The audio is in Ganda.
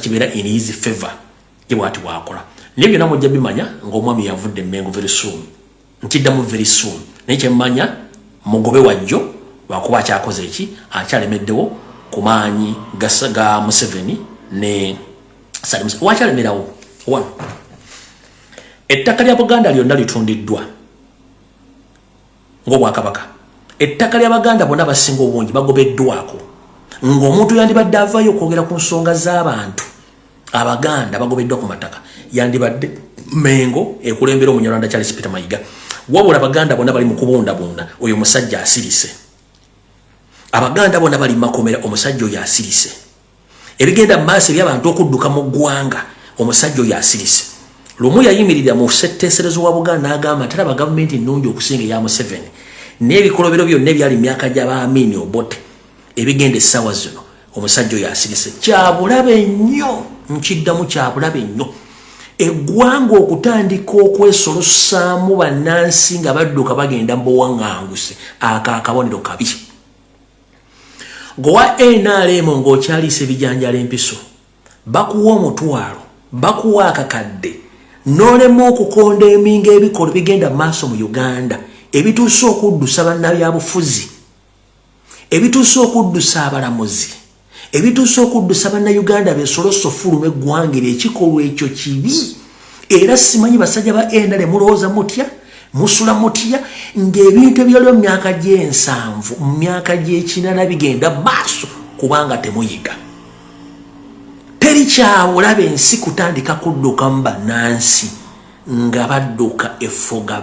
kibeera in his favor ye bwati bwakola naye byonna mujja bimanya ng'omwami yavudde emengo very soon nkiddamu very soon naye kyemmanya mugobe wajjo lwakuba akyakoze eki akyalemeddewo ku maanyi ga museveni ne salimus wakyalemerawo one ettaka lya buganda lyonna litundiddwa ng'obwakabaka ettaka ly'abaganda bona abasinga obungi bagobeddwako ng'omuntu yandibadde avaayo okwogera ku nsonga z'abantu abaganda bagobeddwa ku mataka yandibadde mengo ekulembera omunyarwanda charles peter mayiga wabula abaganda bona bali mu kubundabunda oyo omusajja asirise abaganda bona bali makomera omusajja oyo asirise ebigenda mu maaso ebyabantu okudduka mu ggwanga omusajja oyo asirise lumu yayimirira mu setteeserezo wa buganda n'agamba nti alaba gavumenti nnungi okusinga eya museveni n'ebikolobero byonna ebyali mu myaka gya baamiini obote ebigenda essaawa zino omusajja oyo asirise kyabulabe nnyo nkiddamu kyabulabe nnyo eggwanga okutandika okwesolusaamu bannansi nga badduka bagenda mu buwaŋŋanguse ako akabonero kabi gowa nrm ng'okyaliisa ebijanjala empiso bakuwa omutwalo bakuwa akakadde n'olema okukonda eminga ebikolo bigenda mu maaso mu uganda ebituuse okuddusa bannabyabufuzi ebituuse okuddusa abalamuzi ebituuse okuddusa bannayuganda besolosa ofuluma eggwanga eryo ekikolwa ekyo kibi era simanyi basajja ba endale mulowooza mutya musula mutya ng'ebintu ebyaliwo mu myaka gy'ensanvu mu myaka gy'ekinana bigenda maaso kubanga temuyiga teri kyawulaba ensi kutandika kuddukamu bannansi nga badduka effuga